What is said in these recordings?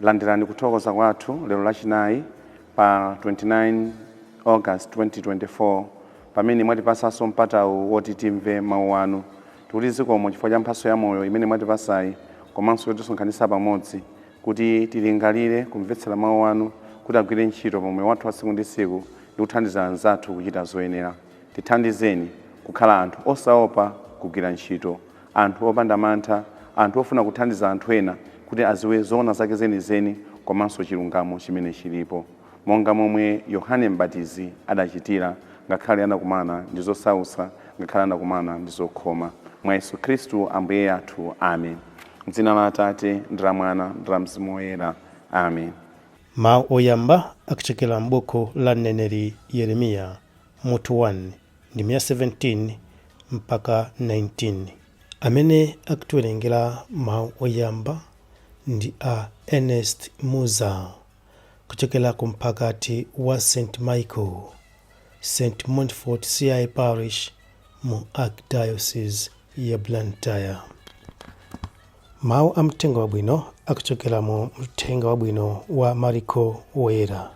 Landirani kuthokoza kwathu lero lachinayi pa 29 August 2024 pamene mwatipasanso mpatawu woti timve mau anu. Tikuti zikomo chifukwa cha mphatso ya moyo imene mwatipasayi komanso yotisonkhanitsa pamodzi kuti tilingalire, kumvetsera mau anu kuti agwire ntchito pa moyo wathu wa tsiku ndi tsiku ndi kuthandiza anzathu kuchita zoyenera. Tithandizeni kukhala anthu osaopa kugwira ntchito. anthu opanda mantha, anthu ofuna kuthandiza anthu ena kuti adziwe zoona zake zenizeni komanso chilungamo chimene chilipo, monga momwe Yohane M'batizi adachitira ngakhale anakumana ndi zosautsa ngakhale anakumana ndi zokhoma. Mwa Yesu Khristu Ambuye athu. Amen. M'dzina la Atate, ndi la Mwana, ndi la Mzimu Woyera. Amen. Mawu oyamba akuchokera m'buku la mneneri Yeremiya. mutu 1, ndime ya 17 mpaka 19. Amene akutiwerengera mawu oyamba ndi a Ernest Muza kuchokera ku mphakati wa St. Michael, St. Montfort CI Parish mu Archdiocese ya Blantyre. Mawu a mthenga wabwino akuchokera mu mthenga wabwino wa Mariko Woyera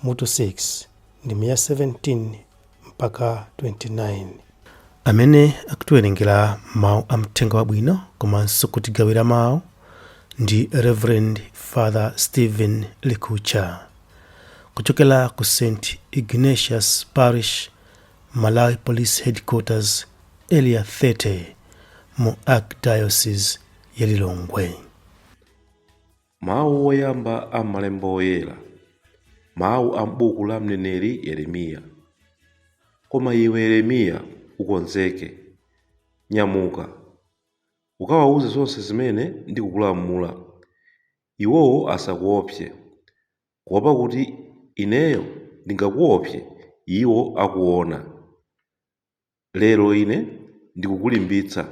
mutu 6 ndime ya 17 mpaka 29. Amene akutiwerengera mawu a mthenga wabwino komanso kutigawira mawu ndi Reverend Father Stephen Likucha kuchokera ku St Ignatius Parish, Malawi Police Headquarters, Area 30 mu Archdiocese ya Lilongwe. Mawu oyamba a m'Malembo Oyera, mawu a m'buku la mneneri Yeremiya. Koma iwe Yeremiya, ukonzeke. Nyamuka, ukawauze zonse zimene ndikukulamula. Iwowo asakuopse, kuopa kuti ineyo ndingakuopse iwo akuona. Lero ine ndikukulimbitsa,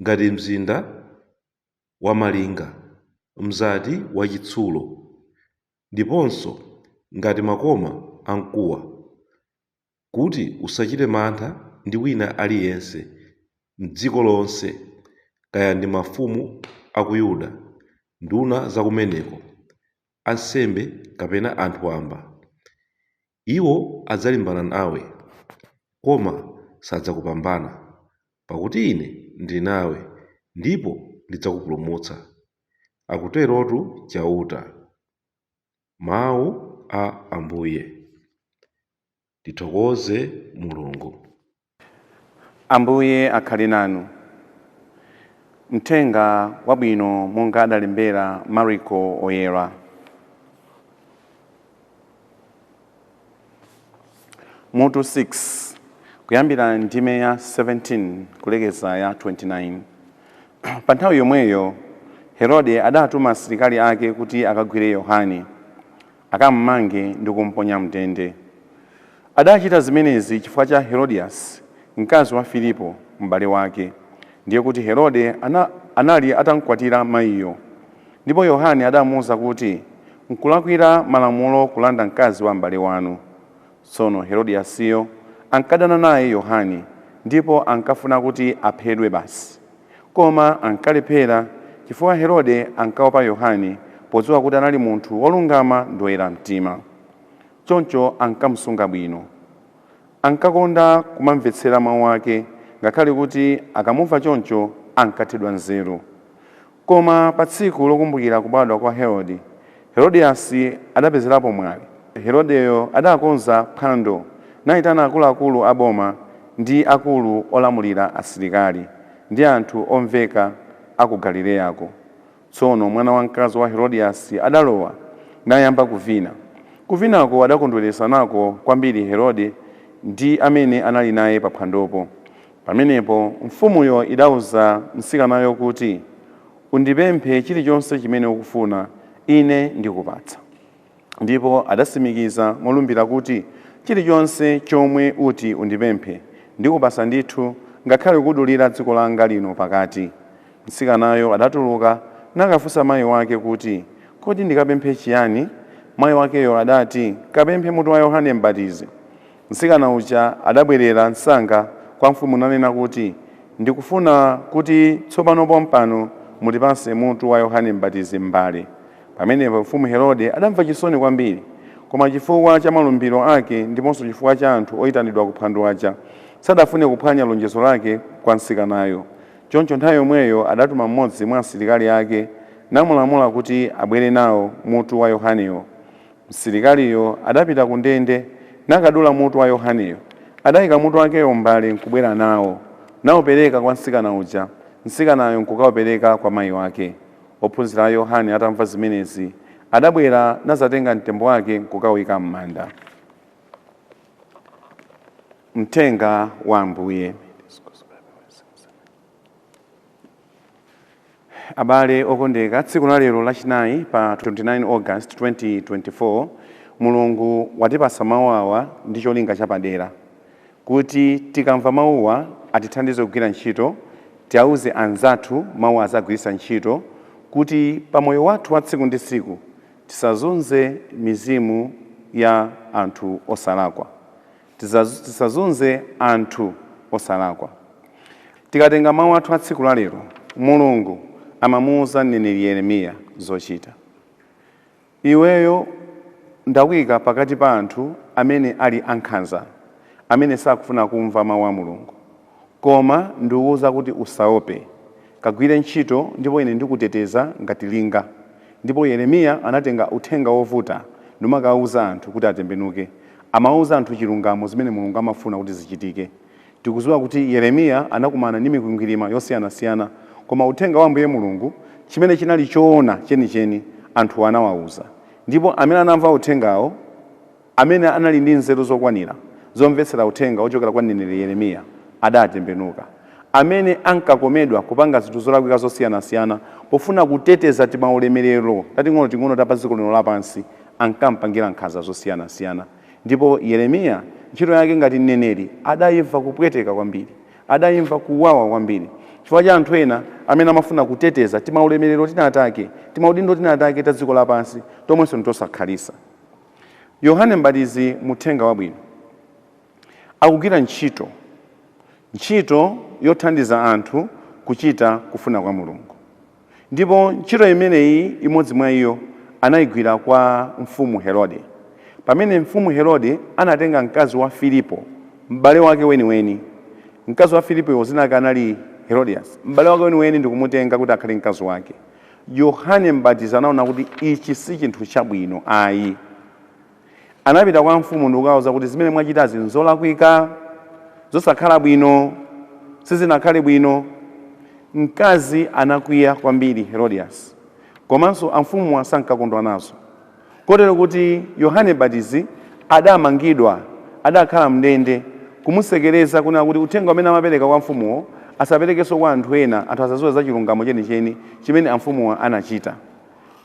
ngati mzinda wamalinga, mzati wachitsulo, ndiponso ngati makoma a mkuwa, kuti usachite mantha ndi wina aliyense m'dziko lonse, kaya ndi mafumu a ku Yuda, nduna za kumeneko, ansembe kapena anthu wamba. Iwo adzalimbana nawe, koma sadzakupambana, pakuti Ine ndili nawe ndipo ndidzakupulumutsa, akuterotu Chauta. Mau a Ambuye. Tithokoze Mulungu. Ambuye akhale nanu. Mthenga wabwino monga adalembera Mariko Woyera. Mutu 6 kuyambira ndime ya 17 kulekeza ya 29. Pa nthawi yomweyo Herode adatuma asilikali ake kuti akagwire Yohane. akam'mange ndi kum'ponya m'ndende. Adachita zimenezi chifukwa cha Herodiasi, mkazi wa Filipo, mbale wake. Ndiye kuti Herode anali atam'kwatira maiyo. Ndipo Yohane adamuuza kuti, Nkulakwira Malamulo kulanda mkazi wa mbale wanu. Tsono Herodiasiyo ankadana naye Yohane ndipo ankafuna kuti aphedwe basi. Koma ankalephera chifukwa Herode ankaopa Yohane podziwa kuti anali munthu wolungama ndi woyera mtima. Choncho ankamusunga bwino. Ankakonda kumamvetsera mawu ake ngakhale kuti akamumva choncho ankathedwa nzeru. Koma pa tsiku lokumbukira kubadwa kwa Herode, Herodiasi adapezerapo mwayi. Herodeyo adakonza phwando, naitana akuluakulu a boma ndi akulu olamulira asilikali, ndi anthu omveka a ku Galileyako. Tsono mwana wamkazi wa Herodiasi adalowa, nayamba kuvina. Kuvinako adakondweretsa nako kwambiri Herode ndi amene anali naye paphwandopo. Pamenepo mfumuyo idauza mtsikanayo kuti, Undipemphe chilichonse chimene ukufuna, ine ndikupatsa. Ndipo adatsimikiza molumbira kuti, Chilichonse chomwe uti undipemphe, ndikupatsa ndithu, ngakhale kudulira dziko langa lino pakati. Mtsikanayo adatuluka, nakafunsa mai wake kuti, Kodi ndikapemphe chiyani? Mai wakeyo adati, Kapemphe mutu wa Yohane Mbatizi. Mtsikana uja adabwerera msanga kwa mfumu nanena kuti, Ndikufuna kuti tsopano pompano mutipatse mutu wa Yohane M'batizi m'mbale. Pamenepo mfumu Herode adamva chisoni kwambiri. Koma chifukwa cha malumbiro ake ndiponso chifukwa cha anthu oitanidwa ku phwando aja, sadafune kuphwanya lonjezo lake kwa mtsikanayo. Choncho nthawi yomweyo adatuma mmodzi mwa asilikali ake, namulamula kuti abwere nawo mutu wa Yohanewo. Msilikaliyo adapita ku ndende, nakadula mutu wa Yohaneyo. Adaika mutu wakeyo m'mbale nkubwera nawo, naupereka kwa mtsikana uja, mtsikanayo nkukaupereka kwa mai wake. Ophunzira a Yohane atamva zimenezi, adabwera nadzatenga mtembo wake nkukauika m'manda. Mthenga wa Ambuye. Abale okondeka, tsiku la lero lachinayi pa 29 August 2024, Mulungu watipatsa mau awa ndi cholinga chapadera. Kuti tikamva mauwa atithandize kugwira ntchito, tiauze anzathu mauwa azagwiritsa ntchito kuti pa moyo wathu wa tsiku ndi tsiku tisazunze mizimu ya anthu osalakwa. Tisazunze anthu osalakwa. Tikatenga mawu athu a tsiku lalero, Mulungu amamuuza mneneri Yeremiya zochita. Iweyo ndakuika pakati pa anthu amene ali ankhanza, amene sakufuna kumva mawu a Mulungu. Koma ndikukuuza kuti, Usaope. Kagwire ntchito ndipo ine ndikuteteza ngati linga. Ndipo Yeremiya anatenga uthenga wovuta numakauza anthu kuti atembenuke. Amauza anthu chilungamo zimene Mulungu amafuna kuti zichitike. Tikuziwa kuti Yeremiya anakumana ndi mikwingwirima yosiyanasiyana koma uthenga wa Ambuye Mulungu chimene chinali choona chenicheni anthu anawauza. Ndipo amene anamva uthengawo. Amene anali ndi nzeru zokwanira zomvetsera uthenga wochokera kwa mneneri Yeremiya adatembenuka. Amene ankakomedwa kupanga zinthu zolakwika zosiyanasiyana pofuna kuteteza timaulemerero tating'onoting'ono ta pa dziko lino lapansi, ankampangira nkhanza zosiyanasiyana. Ndipo Yeremiya, ntchito yake ngati mneneri, adaimva kupweteka kwambiri. Adaimva kuwawa kwambiri chifukwa cha anthu ena amene amafuna kuteteza timaulemerero tinatake, timaudindo tinatake ta dziko lapansi tomwenso ntosakhalitsa. Yohane Mbatizi mu Uthenga Wabwino akugwira ntchito, ntchito yothandiza anthu kuchita kufuna kwa Mulungu. Ndipo ntchito imeneyi, imodzi mwa iyo, anaigwira kwa Mfumu Herode. Pamene Mfumu Herode anatenga mkazi wa Filipo, m'bale wake weniweni, mkazi wa Filipoyo dzina lake anali Herodiasi, m'bale wake weniweni ndi kumutenga kuti akhale mkazi wake, Yohane M'batizi anaona kuti ichi si chinthu chabwino ayi. Anapita kwa mfumu ndikukauza kuti zimene mwachitazi nzolakwika, zosakhala bwino, sizinakhale bwino. Mkazi anakwiya kwambiri Herodiasi komanso amfumuwa sankakondwa nazo. Kotero kuti Yohane Mbatizi adamangidwa, adakhala m'ndende, kumutsekereza, kunena kuti uthenga umene amapereka kwa amfumuwo asaperekenso kwa anthu ena, anthu asadziwe za chilungamo chenicheni chimene amfumuwa anachita.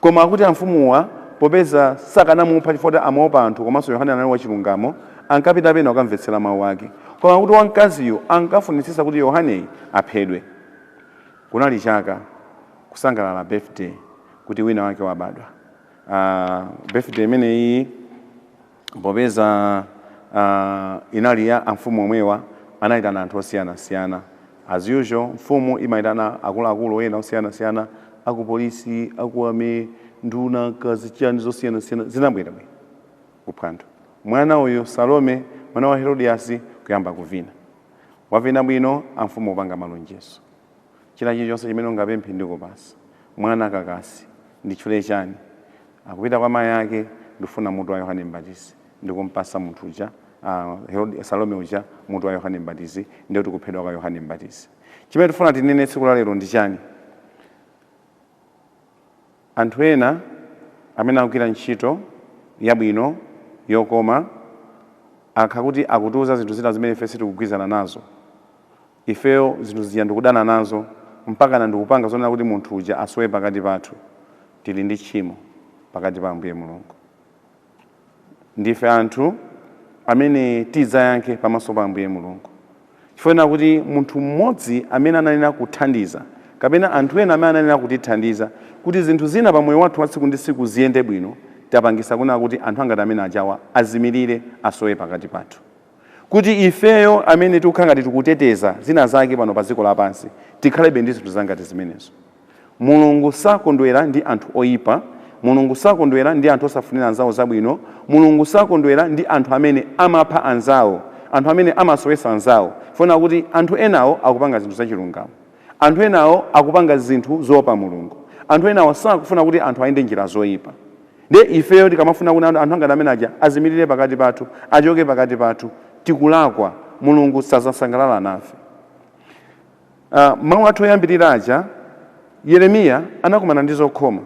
Koma akuti amfumuwa popeza sakanamupha chifukwa kuti amaopa anthu komanso Yohane anali wachilungamo, ankapita pena kukamvetsera mau ake. Koma akuti wamkaziyu ankafunitsitsa kuti Yohaneyu aphedwe. Kunali chaka kusangalala birthday kuti wina wake wabadwa. uh, birthday imeneyi popeza uh, inali ya amfumu omwewa anayitana anthu osiyanasiyana as usual mfumu imayitana akuluakulu ena osiyanasiyana akupolisi aku army nduna kaya zichani zosiyanasiyana zinabwera kuphwando mwana uyu salome mwana wa herodiasi kuyamba kuvina wavina bwino amfumu kupanga malonjezo China chilichonse chimene ungapemphe ndikupasa. Mwana kakasi, nditchule chani? Akupita kwa mayi ake, ndifuna mutu wa Yohane Mbatizi. Ndikumpasa munthu uja, aah, Herodi, Salome uja mutu wa Yohane Mbatizi, ndiye kuti kuphedwa kwa Yohane Mbatizi. Chimene tikufuna tinene tsiku la lero ndi chani? Anthu ena amene akugwira ntchito yabwino, yokoma, akhala kuti akutiuza zinthu zina zimene ife sitikugwirizana nazo. Ifeyo zinthu zija ndikudana nazo mpakana ndikupanga zonena kuti munthu uja asowe pakati pathu. Tili ndi tchimo pakati pa Ambuye Mulungu. Ndife anthu amene tidzayankhe pamaso pa Ambuye Mulungu chifukwa chonena kuti munthu mmodzi amene anayenera kuthandiza kapena anthu ena amene anayenera kutithandiza kuti zinthu zina pa moyo wathu wa tsiku ndi tsiku ziyende bwino tapangisa kunena kuti anthu angati amene ajawa azimirire, asowe pakati pathu. kuti ifeyo amene tikukhala ngati tikuteteza zina zake pano pa dziko lapansi tikhalebe ndi zinthu zangati zimenezo. Mulungu sakondwera ndi anthu oipa, Mulungu sakondwera ndi anthu osafunira anzawo zabwino, Mulungu sakondwera ndi anthu amene amapha anzawo, anthu amene amasowesa anzawo, chifukwa chonena kuti anthu enawo akupanga zinthu zachilungamo. Anthu enawo akupanga zinthu zoopa Mulungu. Anthu enawo sakufuna kuti anthu ayende njira zoipa. Ndiye ifeyo tikamafuna kuti anthu angati amene aja azimirire pakati pathu, achoke pakati pathu, tikulakwa. Mulungu sazasangalala nafe. Mawu athu oyambirira aja, Yeremiya anakumana ndi zokhoma.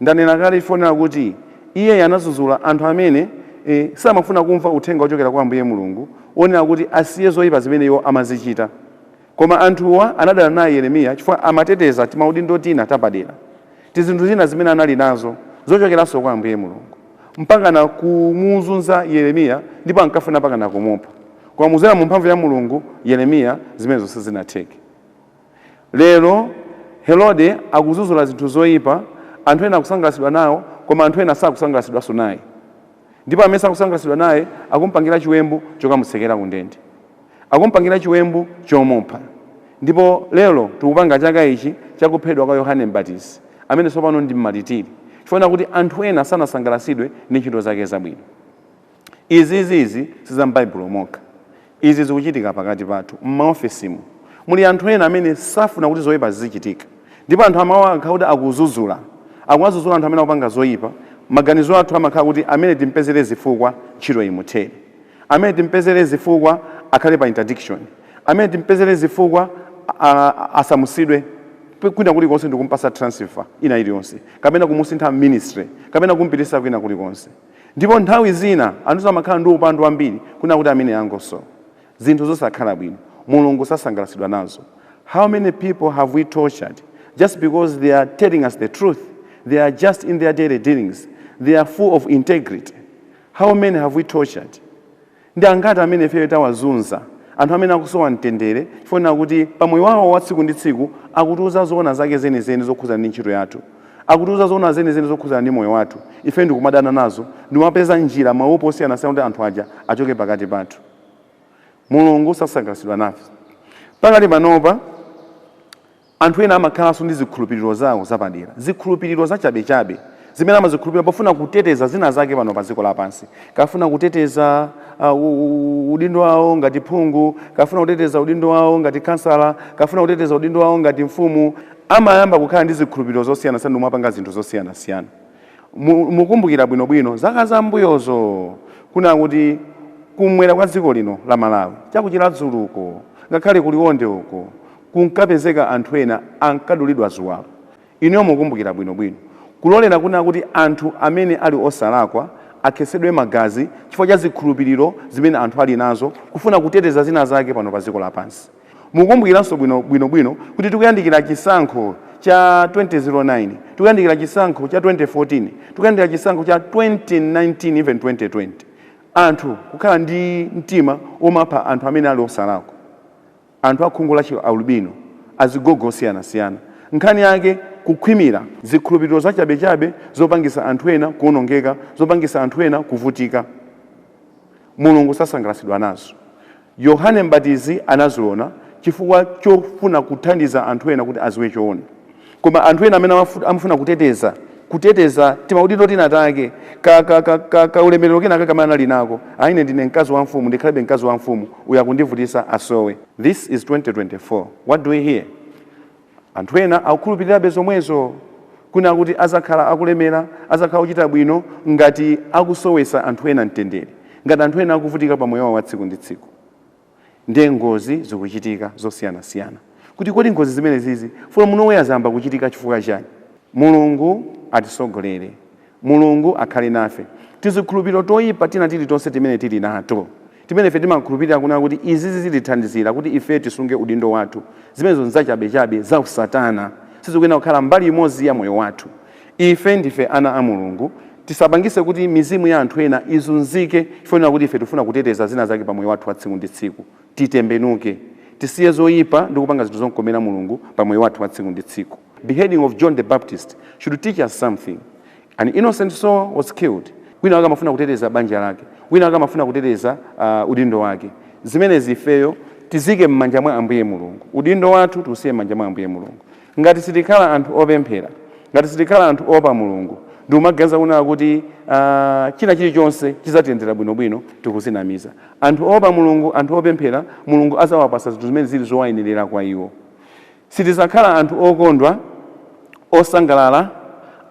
Ndanena kale chifukwa chonena kuti iye anazuzula anthu amene samafuna kumva uthenga wochokera kwa Ambuye Mulungu wonena kuti asiye zoipa zimene iwo amazichita. Koma anthuwa anadana naye Yeremiya chifukwa amateteza timaudindo tina tapadera, tizinthu zina zimene anali nazo zochokeranso kwa Ambuye Mulungu, mpakana kumuzunza Yeremiya ndipo ankafuna mpakana kumupha. Koma kudzera mu mphamvu ya Mulungu, Yeremiya zimenezo sizinatheke. Lero Herode akuzuzula zinthu zoipa, anthu ena akusangalatsidwa nawo koma anthu ena sakusangalatsidwanso naye. Ndipo amene sakusangalatsidwa naye akumpangira chiwembu chokamutsekera kundende. Akumpangira chiwembu chomupha. Ndipo lero tikupanga chaka ichi cha kuphedwa kwa Yohane Mbatizi, amene tsopano ndi mmaritiri, chifukwa chonena kuti anthu ena sanasangalatsidwe ndi ntchito zake zabwino. Izi, izi, izi si za m'Baibulo mokha. Izi zikuchitika pakati pathu, m'maofesimu. Muli anthu ena amene safuna kuti zoipa zizichitika. Ndipo anthu amawa akakhala kuti akudzudzula, akuwadzudzula anthu amene akupanga zoipa, maganizo athu amakhala kuti amene timpezere zifukwa, ntchito imuthere. Amene timpezere zifukwa, akhale pa interdiction. Amene timpezere zifukwa, a, a, asamutsidwe kwina kulikonse ndikumpatsa transfer ina iliyonse, kapena kumusintha ministry, kapena kumpititsa kwina kulikonse. Ndipo nthawi zina anthu amakhala ndi upandu wambiri kunena kuti ameneyo angosowa. Zinthu zosakhala bwino. Mulungu sasangalatsidwa nazo. How many people have we tortured just because they are telling us the truth? They are just in their daily dealings. They are full of integrity. How many have we tortured? Ndi angati amene ifeyo tawazunza, anthu amene akusowa mtendere chifukwa chonena kuti pa moyo wawo wa tsiku ndi tsiku akutiuza zoona zake zenizeni zokhudzana ndi ntchito yathu, akutiuza zoona zenizeni zokhudzana ndi moyo wathu, ife ndikumadana nazo, ndikumapeza njira, maupo osiyanasiyana kuti anthu aja achoke pakati pathu. Mulungu sasangalatsidwa nafe. Pakali panopa. Anthu ena amakhalanso ndi zikhulupiriro zawo zapadera, zikhulupiriro zachabechabe zimene amazikhulupirira pofuna kuteteza zinazake pano padziko lapansi. Akafuna kuteteza uh, udindo wawo ngati phungu, akafuna kuteteza udindo wawo ngati khansala, akafuna kuteteza udindo wawo ngati mfumu, amayamba kukhala ndi zikhulupiriro zosiyanasiyana ndi kumapanga zinthu zosiyanasiyana. Mukumbukira bwinobwino zaka zambuyozo kunena kuti kumwera kwa dziko lino la Malawi, cha ku Chiradzulu uko, ngakhale ku Liwonde uko, kunkapezeka anthu ena ankadulidwa ziwalo. Inuyo mukumbukira bwinobwino. Kulolera kunena kuti anthu amene ali osalakwa akhetsedwe magazi chifukwa cha zikhulupiriro zimene anthu ali nazo, kufuna kuteteza zinazake pano padziko lapansi. Mukumbukiranso bwinobwino kuti tikuyandikira chisankho cha 2009, tikuyandikira chisankho cha 2014, tikuyandikira chisankho cha 2019 even 2020. Anthu kukhala ndi mtima womapha anthu amene ali osalakwa. anthu a khungu la chi alubino, azigogo osiyanasiyana. Nkhani yake, kukhwimira, zikhulupiriro zachabechabe zopangisa anthu ena kuonongeka, zopangisa anthu ena kuvutika. Mulungu sasangalasidwa nazo. Yohane Mbatizi anaziona chifukwa chofuna kuthandiza anthu ena kuti aziwe choona. Koma anthu ena amene amafut, amafuna kuteteza, kuteteza timaudindo tinatake, ka, ka, ka, ka, kaulemerero kenakake kamene anali nako, ah, ine ndine mkazi wa mfumu, ndikhalebe mkazi wa mfumu, uyu akundivutisa asowe. This is 2024, what do we hear? Anthu ena akukhulupirirabe zomwezo, kunena kuti adzakhala akulemera, adzakhala ochita bwino ngati akusowetsa anthu ena mtendere, ngati anthu ena akuvutika pa moyo wao wa tsiku ndi tsiku. Ndiye ngozi zikuchitika zosiyanasiyana kuti kodi ngozi zimenezizi from nowhere zayamba kuchitika chifukwa chani? Mulungu atisogolere, Mulungu akhale nafe. Tizikhulupiriro toipa tina tilitonse timene tili nato, timene ife timakhulupirira kunena kuti izizi zitithandizira kuti ife tisunge udindo wathu, zimenezo nzachabechabe, zausatana, sizikuyenera kukhala mbali imodzi ya moyo wathu. Ife ndife ana a Mulungu, tisapangise kuti mizimu ya anthu ena izunzike chifukwa kuti ife tifuna kuteteza zina zake pa moyo wathu wa tsiku ndi tsiku. Titembenuke. Tisiye zoipa ndi kupanga zinthu zokomera Mulungu pa moyo wathu wa tsiku ndi tsiku. Beheading of John the Baptist should teach us something. An innocent soul was killed. Wina wake amafuna kuteteza banja lake. Wina wake amafuna kuteteza udindo wake. Zimenezi ifeyo tiziike m'manja mwa Ambuye Mulungu. Udindo wathu tiusiye m'manja mwa Ambuye Mulungu. Ngati sitikhala anthu opemphera, ngati sitikhala anthu oopa Mulungu, ndikumaganiza kunena kuti china chilichonse chidzatiyendera bwinobwino, tikuzinamiza. Anthu oopa Mulungu, anthu opemphera, Mulungu adzawapatsa zinthu zimene zili zowayenerera kwa iwo. Sitidzakhala anthu okondwa, osangalala,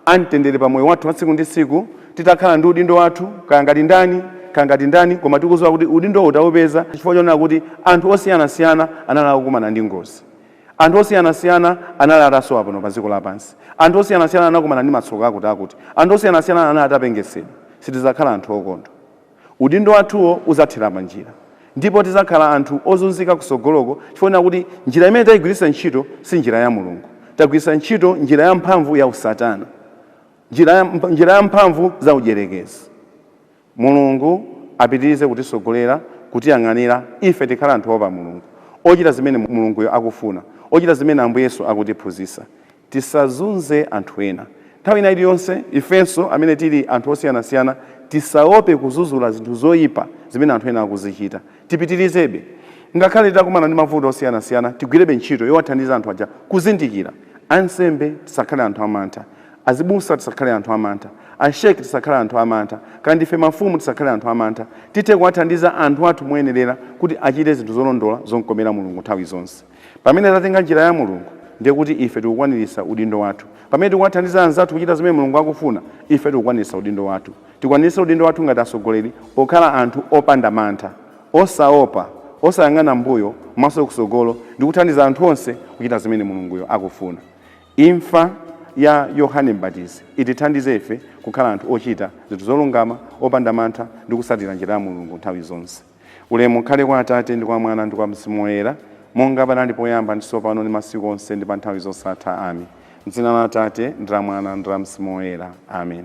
a mtendere pa moyo wathu wa tsiku ndi tsiku, titakhala ndi udindo wathu, kaya ngati ndani, koma tikudziwa kuti udindowu tawupeza chifukwa chonena kuti anthu osiyanasiyana anali akukumana ndi ngozi. Anthu osiyanasiyana anali atasowa pano pa dziko lapansi. Anthu osiyanasiyana anakumana ndi matsoka akutiakuti. Anthu osiyanasiyana anali atapengesedwa. Sitidzakhala anthu okondwa. Udindo wathuwo udzathera panjira. Ndipo tidzakhala anthu ozunzika kutsogoloko chifukwa chonena kuti njira imene taigwiritsa ntchito si njira ya Mulungu. Tagwiritsa ntchito njira yamphamvu ya usatana, njira yamphamvu za udyerekezi. Mulungu apitirize kutisogolera, kutiyang'anira, ife tikhale anthu oopa Mulungu, ochita zimene Mulunguyo akufuna, ochita zimene Ambuye Yesu akutiphunzitsa. Tisazunze anthu ena. Nthawi ina iliyonse, ifenso amene tili anthu osiyanasiyana tisaope kuzuzula zinthu zoipa zimene anthu ena akuzichita. Tipitirizebe. Ngakhale titakumana ndi mavuto osiyanasiyana, tigwirebe ntchito yowathandiza anthu aja kuzindikira. Ansembe, tisakhale anthu amantha. Azibusa tisakhale anthu amantha, a Sheikh tisakhale anthu amantha, kaya ndife mafumu tisakhale anthu amantha, tithe kuwathandiza anthu athu moyenerera kuti achite zinthu zolondola zokomera Mulungu nthawi zonse. Pamene tatenga njira ya Mulungu ndiye kuti ife tikukwaniritsa udindo wathu. Pamene tikuwathandiza anzathu kuchita zimene Mulungu akufuna, ife tikukwaniritsa udindo wathu. Tikwaniritse udindo wathu ngati atsogoleri okhala anthu opanda mantha, osaopa, osayang'ana m'mbuyo, maso kutsogolo ndi kuthandiza anthu onse kuchita zimene Mulunguyo akufuna. Imfa ya Yohane Mbatizi itithandize ife kukhala anthu ochita zinthu zolungama, opanda mantha, ndi kutsatira njira ya Mulungu nthawi zonse. Ulemu ukhale kwa Atate, ndi kwa Mwana, ndi kwa Mzimu Woyera, monga panali poyamba, ndi tsopano, ndi masiku onse, ndi pa nthawi zosatha. Amen. M'dzina la Atate, ndi la Mwana, ndi la Mzimu Woyera. Amen.